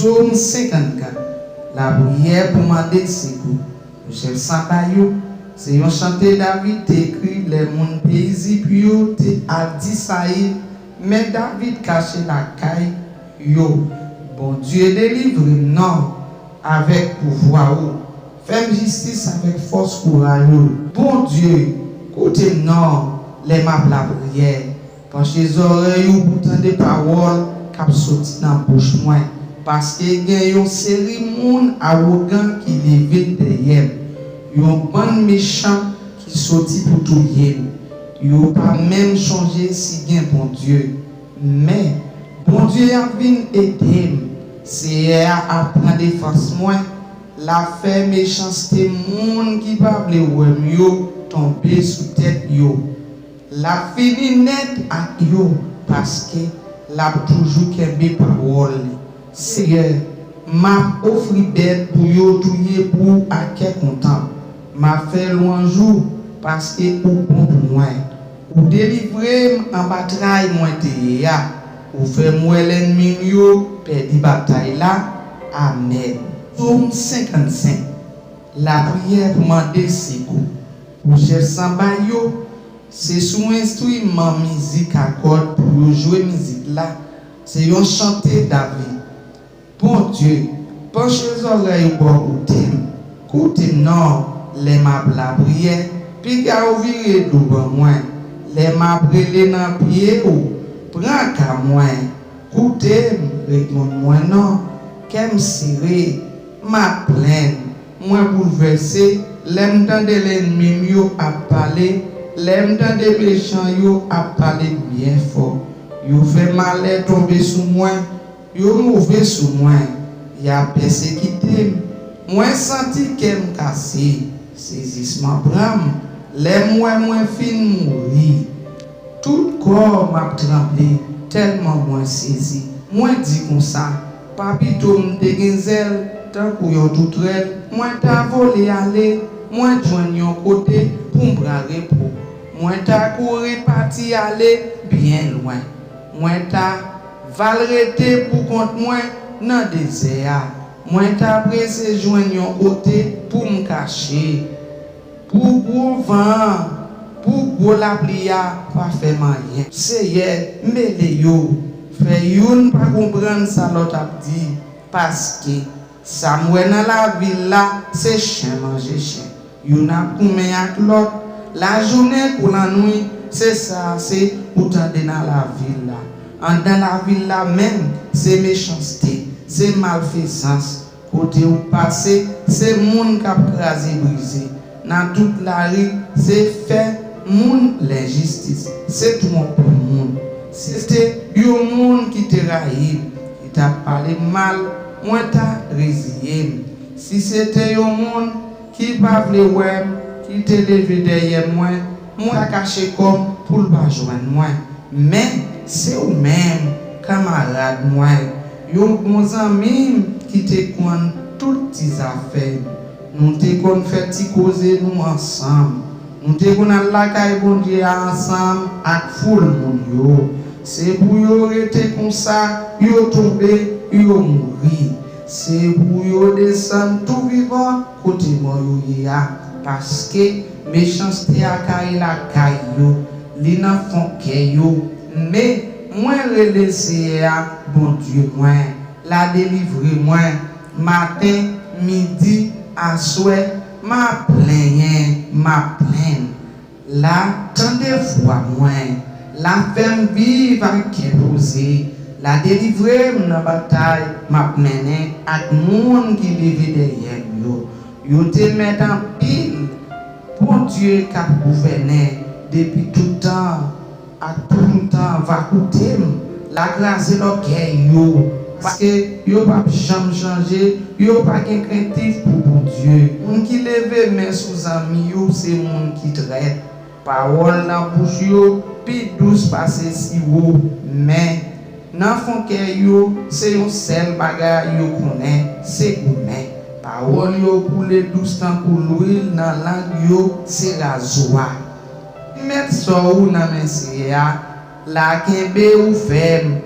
Psaume 54 Lapriyè pou mande sekou pou chèf saba yo se yon chante David te ekri lè moun peyi Zip yo te al di Sayil, Men David kache lakay yo. Bondye, delivre m non avèk pouvwa ou, fè m jistis avèk fòs kouraj ou. Bondye, koute m non lè m ap lapriyè. Panche zòrèy ou pou tande pawòl k ap soti nan bouch mwen, paske gen yon seri moun awogan ki leve dèyè m, yon bann mechan ki soti pou touye m. Yo pa menm chonje si gen Bondye. Men, Bondye a vin ede m, Seyè a ap pran defans mwen, l ap fè mechanste moun ki pa vle wè m yo tonbe sou tèt yo. Lap fini nèt ak yo paske lap toujou kenbe pawòl li. Seyè, map ofri bèt pou yo touye pou ou ak kè kontan. Map fè lwanj ou paske ou bon pou mwen. Ou delivre m anba tray mwen te ye a, ou fè m wè lènmi m yo pèdi batay la. Amèn. Som 55. Lapriyè pou mande sekou pou chèf sanba yo, se sou enstriman mizik a kòd pou yo jwe mizik la, se yon chante David. Bondye, panche zòrèy ou bò kote m, koute m non, lè m ap lapriyè, piga ou vire do ban mwen, lè m ap rele nan pye ou, pran ka mwen, koute m, reponn mwen non, kè m sere. M ap plenn, mwen boulvèse, lè m tande lènmi m yo ap pale, lè m tande mechan yo ap pale m byen fò. Yo fè malè tonbe sou mwen, yo move sou mwen, y ap pèsekite m. Mwen santi kè m kase, sezisman pran m lè m wè mwen fin mouri. Tout kò m ap tranble tèlman mwen sezi. Mwen di konsa. Pa pito m te gen zèl tankou yon toutrèl. Mwen ta vole ale, mwen t jwenn yon kote pou m pran repo. Mwen ta kouri pati ale byen lwen. Mwen ta va l rete pou kont mwen nan dezè a. Mwen ta prese jwenn yon kote pou m kache. Pou gwo van an, pou gwo lapli a pa fè m anyen. Seyè, mele yo, fè youn pa konprann sa lòt ap di, paske, sa m wè nan lavil la, se chen manje chen. Youn ap goumen ak lòt, lajounen kou lannwit, se sa ase ou tande nan lavil la. Anndan lavil la menm, se mechanste, se malfezans, Kotew pase se moun kap kraze brize nan tout lari se fè moun lenjistis se twonp moun se te yon moun ki te rayim ki tap palem mal mwen ta reziyem si se te yon moun Ki pa vle wè m, li te leve dèyè mwen, mwen ta kache kò m pou l pa jwenn mwen. Men, se ou menm, kanmarad mwen, yon bon zanmi m ki te konn tout ti zafè m. Nou te konn fè ti koze nou ansanm. Nou te konn al lakay Bondye a ansanm ak foul moun yo. Se pou yo rete konsa, yo tonbe, yo mouri. Se pou yo desann tou vivan kote mò yo ye a, paske, mechanste a kare lakay yo, li nan fon kè yo. Men, mwen rele Seyè a, Bondye mwen, l'a delivre mwen. Maten, midi, aswè, m'a plenyen, m'a plenn. La tande vwa mwen, la fè m viv ak kè poze, la delivre m nan batay m ap mennen ak moun ki leve dèyè m yo. Yo te mèt anpil, Bondye k ap gouvènen depi tout tan. Ak poum ta va koutem la kraze lògèy yo paske yo pap janm chanje yo pa gen krentif pou Bondye moun ki leve men sou zanmi yo se moun ki trèt pawòl nan bouch yo pi dous pase siwo men nan fon kè yo se yon sèl bagay yo konnen se goumen pawòl yo koule dous tankou lwil nan lang yo se razwa. M met so ou nan men Seyè a la kenbe ou fèm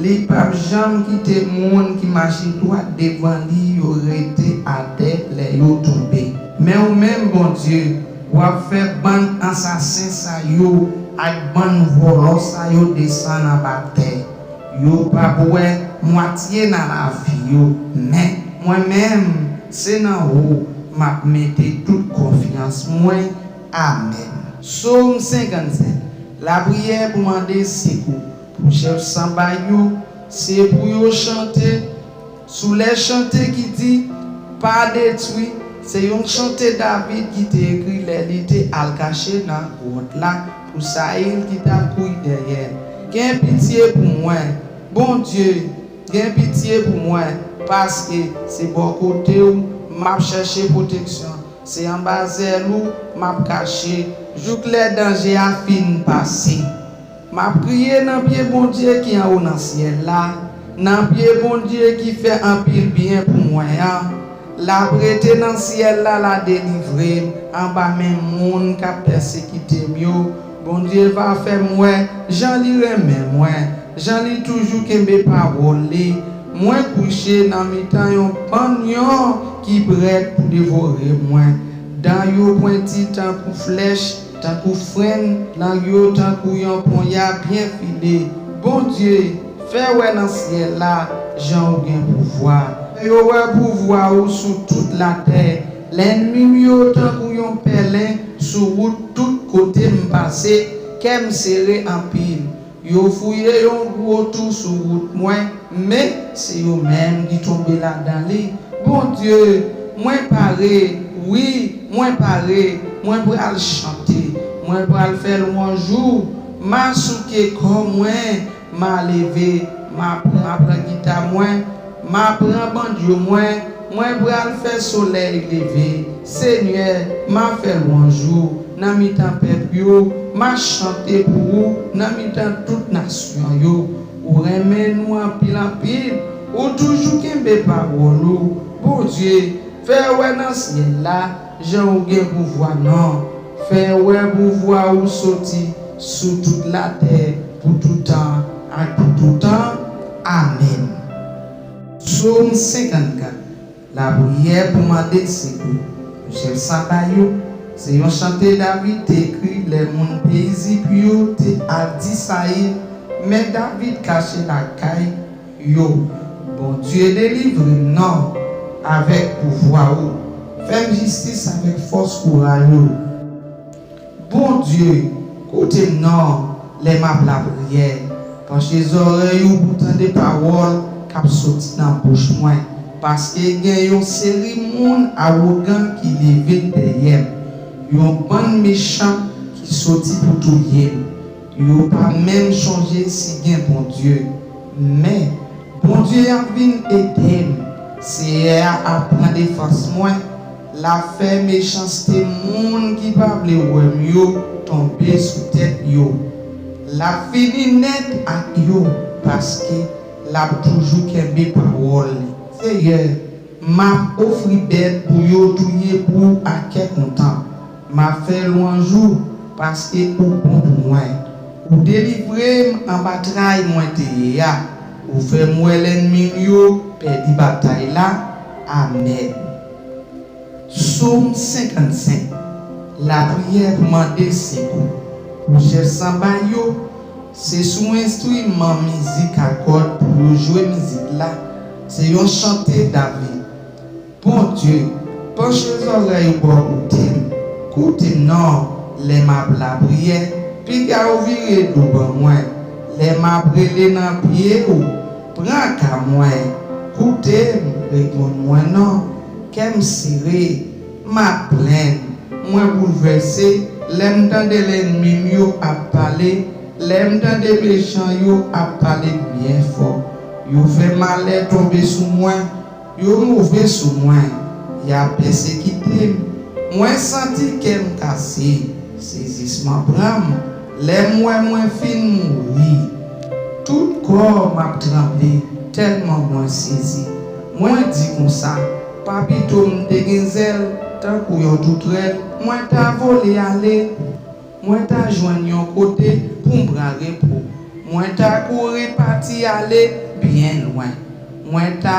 li pap janm kite moun ki mache dwat devan li yo rete atè lè yo tonbe men ou menm Bondye wap fè bann ansasen sa yo ak bann vòlò sa yo desann anba tè yo pap wè mwatye nan lavi yo men mwen menm se nan ou map mete tout konfyans mwen Amèn. Som 57, Lapriyè pou mande sekou pou chèf sanba yo se pou yo chante sou lè chante ki di, Pa detwi, se yon chante David ki te ekri lè li te al kache nan gwòt la pou Sayil ki tap kouri dèyè l, Gen pitye pou mwen, Bondye, gen pitye pou mwen, paske se bò kote w map chèche pwoteksyon. Se anba zèl ou m ap kache. Jouk lè danje a fin pase. M ap kriye nan pye Bondye ki anwo nan syèl la, nan pye Bondye ki fè anpil byen pou mwen an. L ap rete nan syèl la, l a delivre m anba men moun k ap pèsekite m yo. Bondye va fèm wè jan li renmen mwen jan li toujou kenbe pawòl li mwen kouche nan mitan yon bann lyon ki prèt pou devore mwen dan yo pwenti tankou flèch tankou frenn lang yo tankou yon ponya byen file Bondye fè wè nan syèl la jan ou gen pouvwa fè yo wè pouvwa ou sou tout latè. Lènmi m yo tankou yon pèlen sou wout Tout kote m pase, kè m sere anpil Yo fouye yon gwo tou sou wout mwen Men, se yo menm ki tonbe ladan li Bondye, mwen pare, wi, mwen pare Mwen pral chante, mwen pral fè lwanj ou Masouke kò mwen, Ma leve, ma pran ma pran gita mwen, ma pran bandjo mwen, mwen pral fè solèy leve, Senyè, ma fè lwanj ou nan mitan pèp yo, ma chante pou ou nan mitan tout nasyon yo. Ou renmen nou anpil anpil, ou toujou kenbe pawòl ou, Bondye, fè wè nan syèl la. Jan ou gen pouvwa nan. Fè wè pouvwa ou soti sou tout latè pou toutan ak pou toutan. Amèn. Som 54 Lapriyè pou mande sekou pou chèf Saba yo se yon chante David te ekri lè moun peyi Zip yo te al di Sayil men David kache lakay yo Bondye delivrem nan avèk pouvwa ou fèm jistis avèk fòs kouraj ou Bondye koutem nan lè map lapriyè panche zòrèy ou pou tande pawòl kap soti nan bouch mwen paske gen yon seri moun awogan ki leve dèyèm yon bann mechan ki soti pou touyem Yo pa menm chonje si gen Bondye. Men, Bondye a vin ede m. Seyè a ap pran defans mwen, l ap fè mechanste moun ki pa vle wè m yo tonbe sou tèt yo. L ap fini nèt ak yo, paske l ap toujou kenbe pawòl li. Seyè, m ap ofri bèt pou yo touye pou w ak kè kontan. M ap fè lwanj ou, paske ou bon pou mwen. Ou delivre m anba tray mwen te ye a, ou fè m wè lènmi m yo pèdi batay la. Amèn. Som 55 Lapriyè pou mande sekou pou chèf sanba yo Se sou enstriman mizik a kòd pou yo jwe mizik la. Se yon chante David. Bondye, panche zòrèy ou bò kote m, koute m non, lè m ap lapriyè, piga ou vire do ban mwen, lè m ap rele nan pye ou, pran ka mwen, koute m, reponn mwen non, kè m sere, m ap plenn, mwen boulvèse, lè m tande lènmi m yo ap pale, lè m tande mechan yo ap pale byen fò, yo fè malè tonbe sou mwen. Yo move sou mwen, y ap pèsekite m, mwen santi kè m kase, sezisman pran m lè m wè mwen fin mouri. Tout kò m ap tranble tèlman mwen sezi, mwen di konsa, pa pito m te gen zèl tankou yon toutrèl, mwen ta vole ale. Mwen ta jwenn yon kote pou m pran repo. Mwen ta kouri pati ale byen lwen. Mwen ta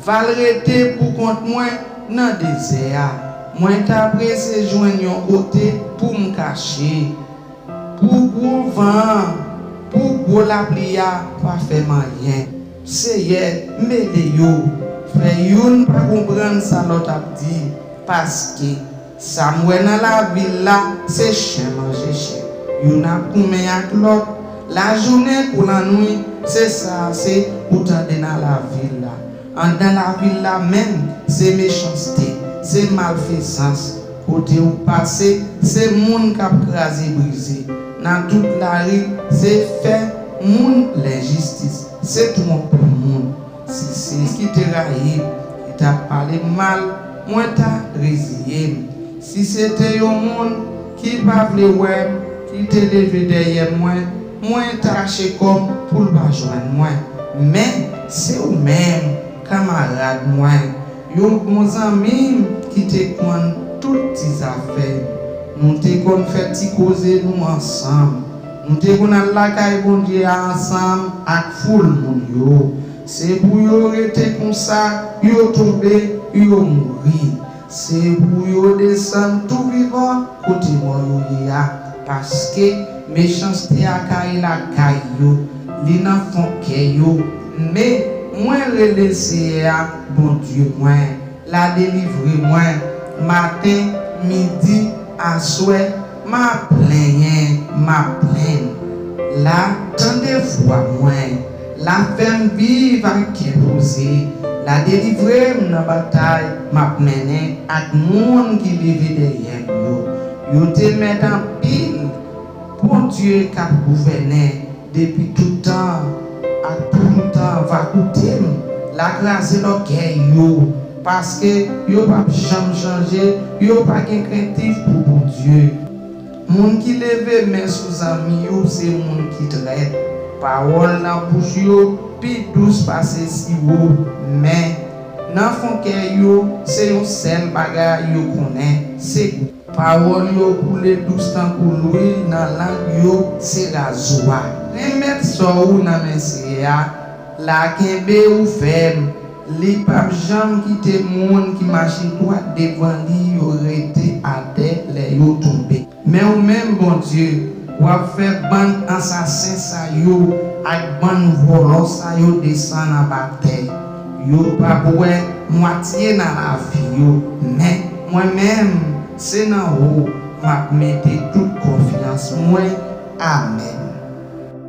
va l rete pou kont mwen nan dezè a. Mwen ta prese jwenn yon kote pou m kache. Pou gwo van an, pou gwo lapli a pa fè m anyen. Seyè, m ede yo. Fè youn pa konprann sa lòt ap di, paske. Sam wè nan lavil la se chen manje chen youn ap goumen ak lòt lajounen kou lannwi se sa ase ou tande nan lavil la andan lavil la menm se mechanste se malfezans kote ou pase se moun kap kraze brize nan tout lari se fè moun lenjistis se twonpe moun Sisi ki te rayi m, ki t ap pale m mal, mwen ta reziye m. Si se te yon moun ki pa vle wè m ki te leve dèyè mwen, mwen ta kache kò m pou l pa jwenn mwen. Men, se ou menm, kanmarad mwen, yon bon zanmi m ki te konn tout ti zafè m. Nou te konn fè ti koze nou ansanm. Nou te konn al lakay Bondye a ansanm ak foul moun yo. Se pou yo rete konsa, yo tonbe, yo mouri. Se pou yo desann tou vivan kote mò yo ye a. Paske, mechanste a kare lakay yo, li nan fon kè yo. Men, mwen rele Seyè a, Bondye mwen. La delivre mwen maten, midi, aswè, ma plenyen, ma plenn. La tande vwa mwen, la fè m viv ak kè poze, la delivre m nan batay m ap mennen ak moun ki leve dèyè m yo. Yo te mèt anpil. Bondye kap gouvènen depi tout tan ak pou tout tan va koutem la kraze lògèy yo paske yo pap janm chanje yo pa gen krentif pou Bondye moun ki leve men sou zanmi yo se moun ki trèt pawòl nan bouch yo pi dous pase siwo men nan fon kè yo se yon sèl bagay yo konnen se Pawòl yo koule dous tankou lwil nan lang yo se razwa. Renmèt sò ou nan men Seyè a la kenbe ou fèm, li pap janm kite moun ki mache dwat devan li yo rete atè lè yo tonbe. Men ou menm Bondye, w'ap fè bann ansasen sa yo ak bann vòlò sa yo desann anba tè. Yo pa bwè mwatye nan lavi yo, men mwen menm se nan ou map mete tout konfyans mwen amen.